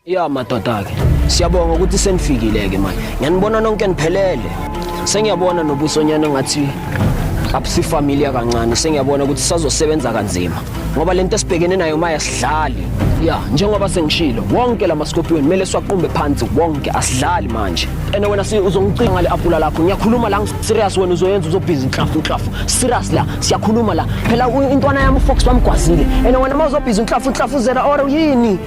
Ya madoda-ke siyabonga ukuthi senifikile-ke manje ngiyanibona nonke niphelele sengiyabona nobusonyana ngathi abusifamiliya kancane sengiyabona ukuthi sazosebenza kanzima ngoba le nto esibhekene nayo uma yasidlali ya njengoba sengishilo wonke la maskopiyoni kumele siwaqumbe phansi wonke asidlali manje ene wena uzongicinga ngale apula lakho ngiyakhuluma la serious wena uzoyenza uzobhizi inhlafu inhlafu serious la siyakhuluma la phela intwana yami ufox bamgwazile ene wena uma uzobhizi inhlafu inhlafu zera or yini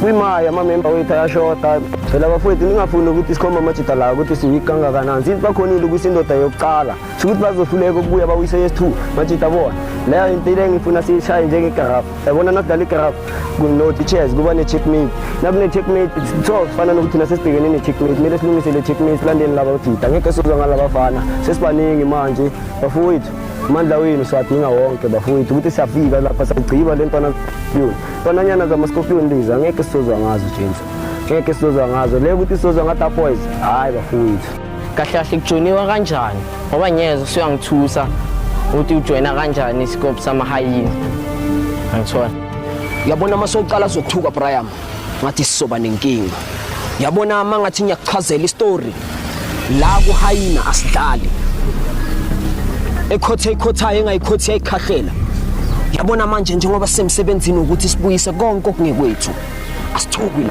kwimaya amamemba wethu ayashoda phela bafowethu ningafuni ukuthi sikhombe amajida layo ukuthi siwiki kangakanani since bakhonile ukuthi indoda yokuqala sho ukuthi bazohluleka ukubuya bawise yes two majida bona leyo into ile ngifuna siyishaye njengegarafu yabona nakudlala igarafu kuno-teachers kuba ne-checkmate nakune-checkmate so sifana nokuthi nasesibhekene ne-checkmate kumele silungise le checkmate silandeni laba bajida ngeke sizwa ngalabafana sesibaningi manje bafowethu amandla wenu siwadinga wonke bafowethu ukuthi siyafika lapha sagciba le ntwana yona Fananyana zama Scorpion lezi angeke sizozwa ngazo James. Ngeke sizozwa ngazo. Le ukuthi sizozwa ngata boys. Hayi bafowethu. Kahle kahle kujoniwa kanjani? Ngoba ngiyeza usuyangithusa ukuthi ujoyina kanjani isikophu samahayini. Angithola. Yabona uma soqala zokuthuka Brian ngathi sizoba nenkinga. Yabona uma ngathi ngiyakuchazela istory la kuhayina asidlali ekhothe ikhothayo engayikhothi yayikhahlela yabona manje njengoba semsebenzini ukuthi sibuyise konke okungekwethu asithukwi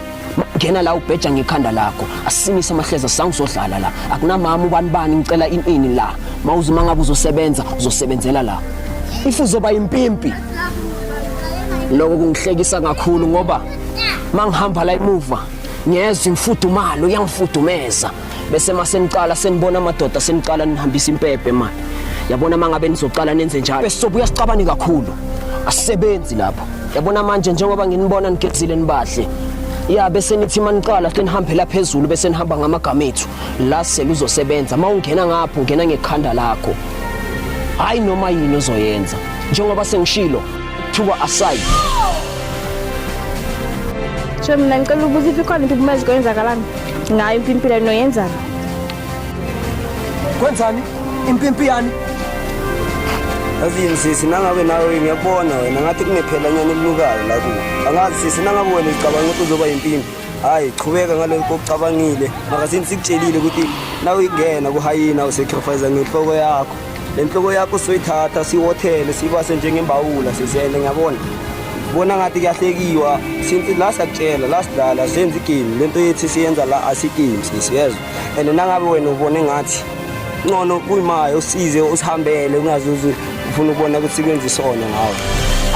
ngena la ubheja ngekhanda lakho asimise amahleza sangizodlala la akunamama ubani bani ngicela inini la mawuzuma ngabe uzosebenza uzosebenzela la if uzoba impimpi lokho kungihlekisa kakhulu ngoba mangihamba la emuva ngiyezwa imfudumalo iyangifudumeza bese maseniqala senibona amadoda seniqala nihambisa impephe manje yabona mangabe nizoqala nenze njalo bese sobuya sicabane kakhulu asisebenzi lapho yabona manje njengoba nginibona nigezile nibahle ya bese nithi maniqala senihambela phezulu bese nihamba ngamagama ethu la seluzosebenza mawungena ngapho ungena ngekhanda lakho hayi noma yini ozoyenza njengoba sengishilo Thuba aside. Shem mina ngicela ukubuza if ikhona into kumele zikwenzakalanga ngayo impimpila noyenzana. Kwenzani? Impimpi yani? Yazi yini sisi nangabe nawe ngiyakubona wena ngathi kunephela nyana elilukayo la kuwe. Angazi sisi nangabe wena ucabanga ukuthi uzoba yimpimpi. Hayi qhubeka ngalokho okucabangile. Maka sini sikutshelile ukuthi nawe ingena kuhayina usacrifice ngenhloko yakho. le nhloko yakho soyithatha siwothele sibase njengembawula sizele ngiyabona bona ngathi kuyahlekiwa since la sakutshela la sidlala senza igame le nto yethi siyenza la asigame sisiyezwa and nangabe wena ubone ngathi ncono kuyimaye usize usihambele ungazuze ufuna ukubona ukuthi kwenza isona ngawo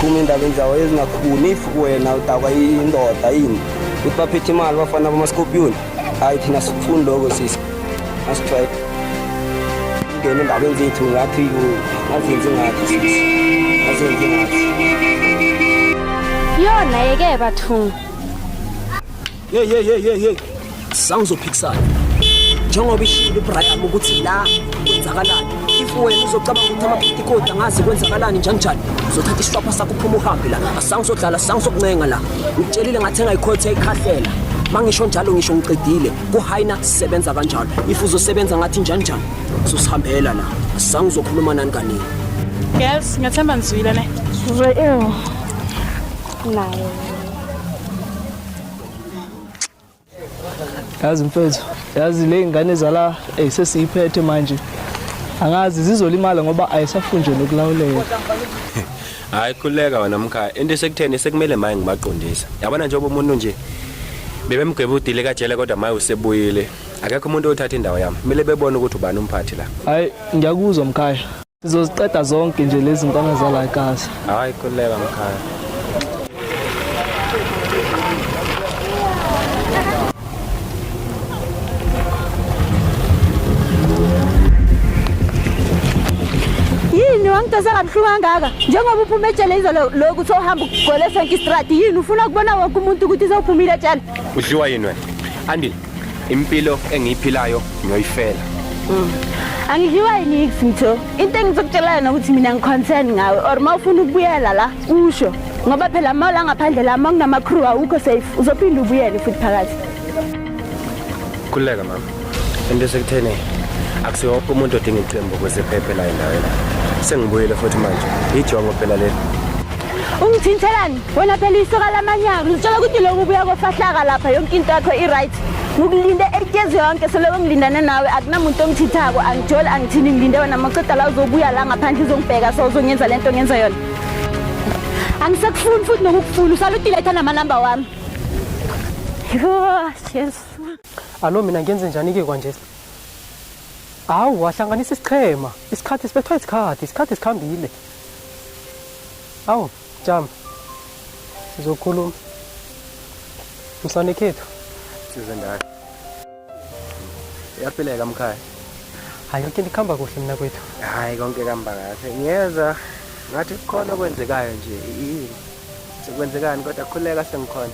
phuma endabeni zawo ezingakhuni if wena udakwa indoda yini ukuthi baphethe imali bafana bamaskopiyoni hayi thina sikufuni lokho sisi asitry ngene endabeni zethu ngathi azenzi ngathi sisi azenzi ngathi yona yeke bathungu ye ye ye ye ye sawuzophikisana njengoba ishilo ibraham ukuthi la kwenzakalani if wena uzocabanga ukuthi amabhidikodi angazi kwenzakalani njanjani uzothatha isitwapha sakho uphuma uhambe la asange sodlala asange sokuncenga la ngitshelile ngathi engayikhotha ikhahlela mangisho njalo ngisho ngiqedile kuhayina sisebenza kanjalo if uzosebenza ngathi njanjani uzosihambela la asange uzokhuluma nani kaningi girls ngiyathemba nizwile ne sizwe ew nayo yazi mfethu yazi le ngane zala ey sesiyiphethe manje angazi zizolimala ngoba ayisafunjwe nokulawuleka hayi khuleka wena mkhaya into esekutheni sekumele maye ngibaqondisa yabona njengoba umuntu nje bebemgweba udile kajele kodwa maye usebuyile akekho umuntu othatha indawo yami kumele bebone ukuthi ubani umphathi la hayi ngiyakuzwa mkhaya Sizoziqeda zonke nje lezi ntwana zala ekhaya. Hayi kuleka mkhaya. yini wangidonsa kabuhlungu kangaka njengoba uphuma ejele izolo loku sohamba ukugolesa nkistrati yini ufuna kubona wonke umuntu ukuthi sewuphumile ejele udliwa yini wena andile Impilo engiyiphilayo ngiyoyifela. Mm. Angidliwa yini Mtho? Into engizokutshela yona ukuthi mina ngiconcern ngawe or uma ufuna ukubuyela la usho ngoba phela uma la ngaphandle la uma kunama crew awukho safe uzophinda ubuyele futhi phakathi. Khuleka mama. Into sekuthene akusiwo wonke umuntu odinga iqembu ukuze phephe la endaweni. Sengibuyele futhi manje. Ijongo phela leli. Ungithintelani? wena phela isoka lamanyaka lizitshela ukuthi lokhu kubuya kofahlaka lapha yonke into yakho i-right ngikulinde etyezi yonke seloko ngilindane nawe akunamuntu ongithithako angijoli angithini ngilinde wena maqeda la uzobuya la ngaphandle uzongibheka so uzongenza le nto ngenza yona angisekufuni futhi nokukufuna usalutiletha namanamba wami yesu alo mina ngenze njani-ke kwanje hawu wahlanganisa isichema isikhathi sibethwa isikhathi isikhathi sikhambile awu Jam. Sizokhuluma. Msane khethu. Size ndayo. Yaphileka mkhaya. Hayi yonke ndikhamba kuhle mina kwethu. Hayi konke kamba kahle. Ngiyeza ngathi kukhona okwenzekayo nje. Yini? Sekwenzekani kodwa khuleka sengikhona.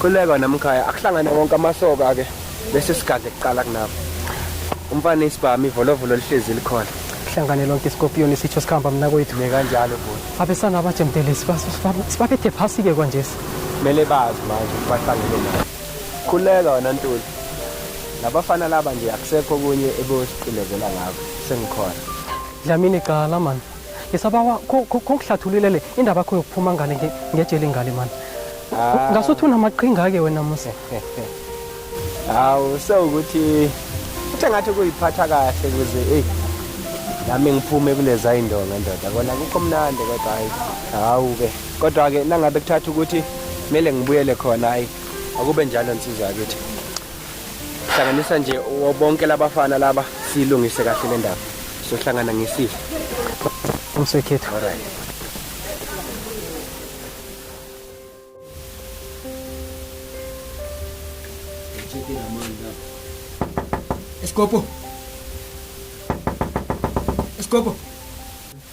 Khuleka namkhaya akuhlangane wonke amasoka ke bese sigadle kuqala kunabo. Umfana isibhami ivolovolo lihlezi likhona. Kuhlangane lonke isikopiyoni sitsho sikhamba mina kwethu. Ne kanjalo bhuti. Abesana abajemdelisi sibaphethe phasi ke kwanje. Mele bazi manje bahlangene nayo. Khuleka wena Ntuli. Labafana laba nje akusekho kunye ebosiqindezela ngabo. Sengikhona. Dlamini cala man. ngisabawa khongihlathululele indaba yakho yokuphuma ngale ngejeli ngale mani ah. ngasuthi unamaqhinga-ke wena musa hawu sewukuthi uthe ngathi kuyiphatha kahle kuze eyi nami ngiphume kuleza indonga ndoda kona kukho mnandi kodwa hayi hawu-ke kodwa-ke nangabe kuthatha ukuthi kumele ngibuyele khona hayi akube njalo nsizwa yakithi hlanganisa nje bonke labafana laba silungise kahle le ndaba sohlangana ngesifo umsekhethu alright Escopo. Escopo.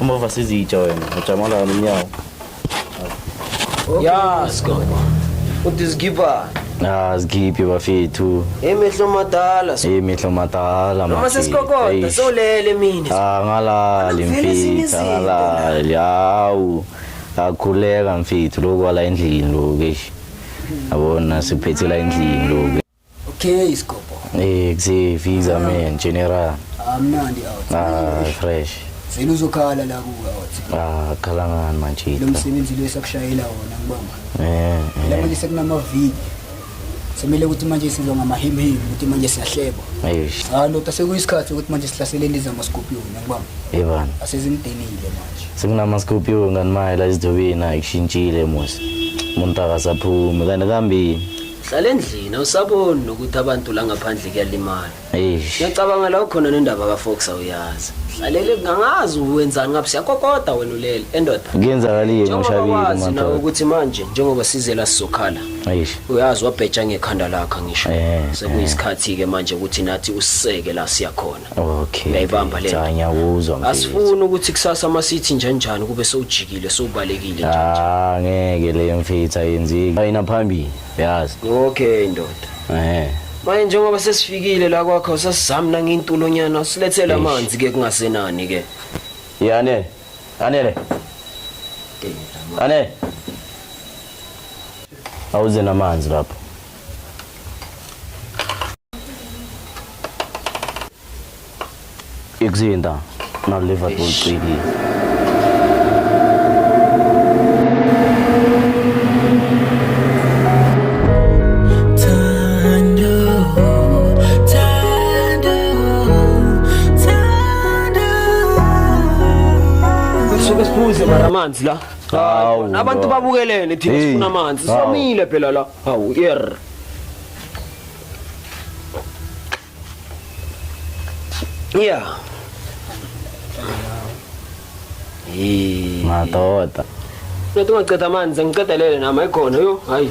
Uma uvasa izitsha wena, ujamala wena unyawo. Ya, Scobo. Uthi zikhipha. Ah, zikhiphe bafethu. Emehlo madala. Hey mihlo madala Noma mafethu. sesikokoda Eish. solele mina. Ah, ngalali Vele ezinye mfethu, izinto ngalali. Hawu. Akhuleka mfethu lokhu wala endlini lokhu. eish. Yabona siphethe la endlini lokhu. Okay, isikobho. Eh, kuze visa man general. Amnandi out. Ah, fresh. Vele uzokhala la kuka out. Ah, khala ngani manje. Lo msebenzi lo esakushayela wona ngibamba. Eh. La manje sekunama viki. Semele ukuthi manje sizwa ngamahimhimi ukuthi manje siyahleba. Eish. Ah, ndoda sekuyisikhathi ukuthi manje sihlaseleni izama scorpion ngibamba. Yebani. Asezimdenile manje. Sekunama scorpion ngani maye la izidobeni ayishintshile mos. Umuntu akasaphume kanti kambi. hlala endlini awusaboni nokuthi abantu la ngaphandle kuyalimala Eish. ngiyacabanga la ukhona nendaba kafox awuyazi hlalele ngangazi wenzani ngabe siyakokoda wena ulele endoda Kuyenzakalile njengoba ushabile wazi nawe uMantolo. ukuthi manje njengoba sizela sizokhala Eish. uyazi wabheja ngekhanda lakho ngisho Eh, sekuyisikhathi-ke manje ukuthi nathi usiseke la siyakhona Okay. Uyayibamba le. Cha ngiyakuzwa mfethu. Asifuni ukuthi kusasa masithi njenjani kube sewujikile sewubalekile nje. Ah ngeke leyo mfethu ayenzeki. Ayina phambili yazi. Okay ndoda. Eh. Manje njengoba sesifikile la kwakho sasizami nangintulonyana silethela amanzi ke kungasenani ke. Yane. Anele. Ane. Awuze namanzi lapho. Ikuzinda na Liverpool ciki. Sokesiphuze mara amanzi la. Hawu, Abantu babukelene thina sifuna amanzi. Somile phela la. Hawu yer. Yeah. Hey. Madoda. Ngithi ungaqeda amanzi ngiqedelele nami ayikhona yo. Hayi.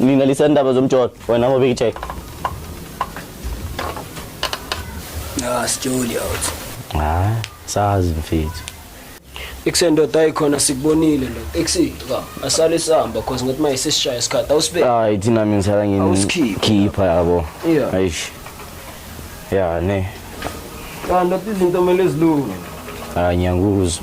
Nina lisendaba zomjolo wena ngoba ikithe. Ah, sijoli out. Hayi, sazi mfethu. Ikusendoda ayikhona sikubonile lo. Eksi, ka, asale sihamba cause ngathi maye sesishaya isikhathi awusibe. Hayi thina mina sala ngini. Awusikhiphe. Khipha yabo. Yeah. Ayish. Ya ne. Kanti izinto kumele zilunge. Hayi ngiyakuzwa.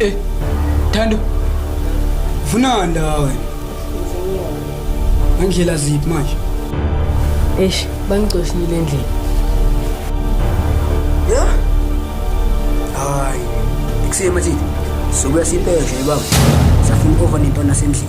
Eh, Thando. Vuna ndawe. Ngandlela ziphi manje? Eish, bangicoshile endlini. Ya? Hayi. Ikusema thina. Sobuya sipeshe baba. Safuna over nentwana sendlini.